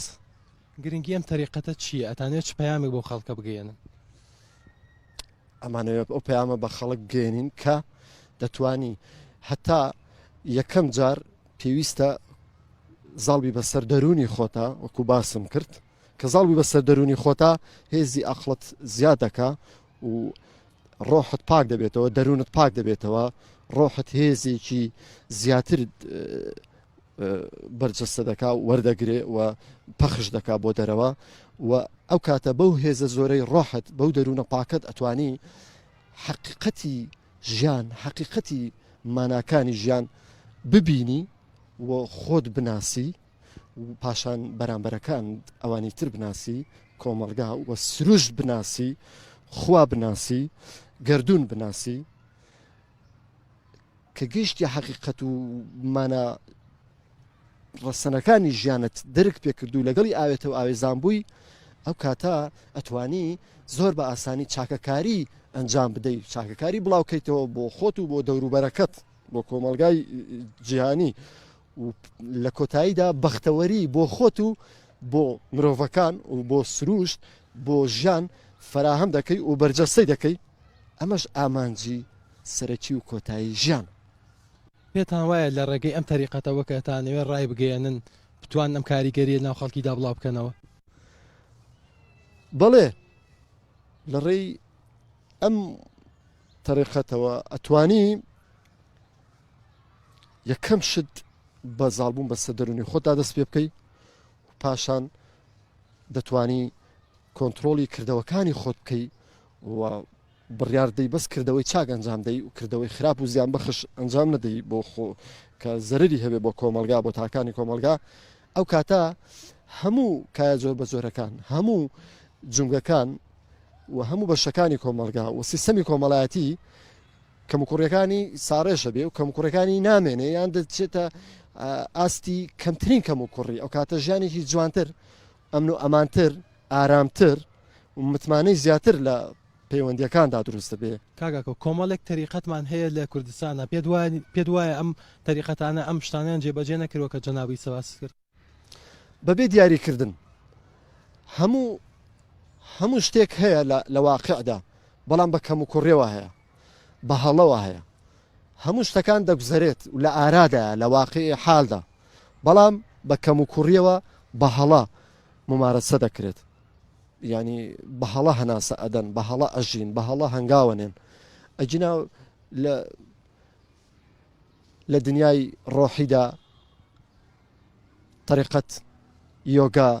بەس. گرنگی ئەم تەریقەتە چیە ئەتانەوێ چ پەیامێک بۆ خەڵکە بگەیەنن؟ ئەمانەوێت ئەو پەیامە بە خەڵک بگەێنین کە دەتانی هەتا یەکەم جار پێویستە زاڵبی بەسەر دەرونی خۆتا وەکو باسم کرد کە زاڵبی بەسەر دەرونی خۆتا هێزی ئەقلت زیادەکە و ڕۆحت پاک دەبێتەوە دەروونت پاک دەبێتەوە ڕۆحت هێزێکی زیاتر بەرجەستە دەکا وەردەگرێ و پەخش دەکا بۆ دەرەوە و ئەو کاتە بەو هێزە زۆرەی ڕۆحت بەو دەروونە پاکت ئەتوانی حقیقەتی ژیان حقیقەتی ماناکانی ژیان ببینی و خۆت بناسی پاشان بەرامبەرەکان ئەوانی تر بناسی کۆمەلگا وە سروشت بناسی خوا بناسی گردردون بناسی کە گەشتی حەقیقەت و مانە ڕەسەنەکانی ژیانت درک پێکردو لەگەڵی ئاوێتە و ئاوێزان بووی ئەو کاتە ئەتوانی زۆر بە ئاسانی چاکەکاری ئەنجام بدەیت چاکەکاری بڵاوکەیتەوە بۆ خۆت و بۆ دەوروبەرەکەت بۆ کۆمەلگای جیهانی و لە کۆتاییدا بەختەوەری بۆ خۆت و بۆ مرۆڤەکان و بۆ سروشت بۆ ژیان فەراهەم دەکەی و بەرجەستەی دەکەی ئەمەش ئامانجی سەرەکی و کۆتایی ژیان پێتان وایە لە ڕێگەی ئەم تەریقەتەوە کە تانەوێ ڕای بگەیەنن بتوان ئەم کاریگەریە ناو خەڵکیدا بڵاو بکەنەوە بەڵێ لە ڕێی ئەم تەریقەتەوە ئەتوانی یەکەم شت بە زالبوون بەسە دەرونی خۆتا دەست پێ بکەی پاشان دەتانی کۆنتترۆلی کردەوەکانی خۆت بکەی و بڕاردەی بەس کردەوەی چاک ئەنجام دەی و کردەوەی خراپ و زیان بەخش ئەنجام نەدەی بۆ خۆ کە زەرری هەبێ بۆ کۆمەلگا بۆ تاکانی کۆمەلگا ئەو کاتە هەموو کایە زۆر بە زۆرەکان هەموو جونگەکان و هەموو بەشەکانی کۆمەلگا و سیستەمی کۆمەڵایەتی کەموکوڕیەکانی ساڕێژە بێ و کەموکوڕەکانی نامێنێ یان دەچێتە ئاستی کەمترین کەم و کوڕی ئەو کاتە ژیانێکی جوانتر ئەمن و ئەمانتر ئارامتر و متمانەی زیاتر لە پەیوەندیەکاندا دروستە بێ کاگاکە کۆمەڵێک تەریقەتمان هەیە لە کوردستانە پێ پێ وایە ئەم تەریقەتانە ئەم شتانیان جێبەجێ نەکردوە کە جەنابی سەباس کرد بەبێ دیاری کردن هەموو هەموو شتێک هەیە لە واقعدا بەڵام بە کەم و کوڕێەوە هەیە بە هەڵەوە هەیە هەموو شتەکان دەگوزەرێت و لە ئارادایە لە واقعی حالدا بەڵام بە کەم و کوڕیەوە بە هەڵە ممارەسە دەکرێت ینی بە هەڵە هەناسە ئەدەن بە هەڵە ئەژین بە هەڵە هەنگاوەنێن ئەجینا لە لە دنیای ڕۆحیدا طریقەت یۆگا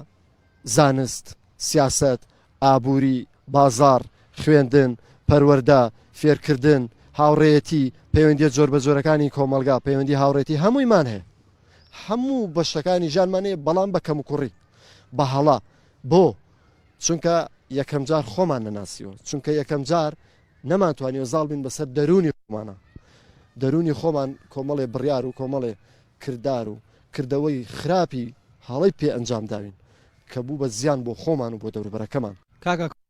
زانست سیاست ئابووری بازار خوێندن پەروەەردە فێرکردن هاوڕێەتی پەیوەندی جۆر بە جۆرەکانی کۆمەلگا پەیوەندی هاوڕێتی هەموویمان هەیە هەموو بەشەکانی ژانمانەیە بەڵام بە کەم و کوڕی بە هەڵا بۆ چونکە یەکەم جار خۆمان نەناسیوە چونکە یەکەم جار نەمانتوانیوە زاڵ بین بەسەر دەروونی خۆمانا دەروونی خۆمان کۆمەڵێ بڕیار و کۆمەڵێ کردار و کردەوەی خراپی هەڵەی پێ ئەنجام داوین کە بوو بە زیان بۆ خۆمان و بۆ دەوروبەرەکەمان. کاکە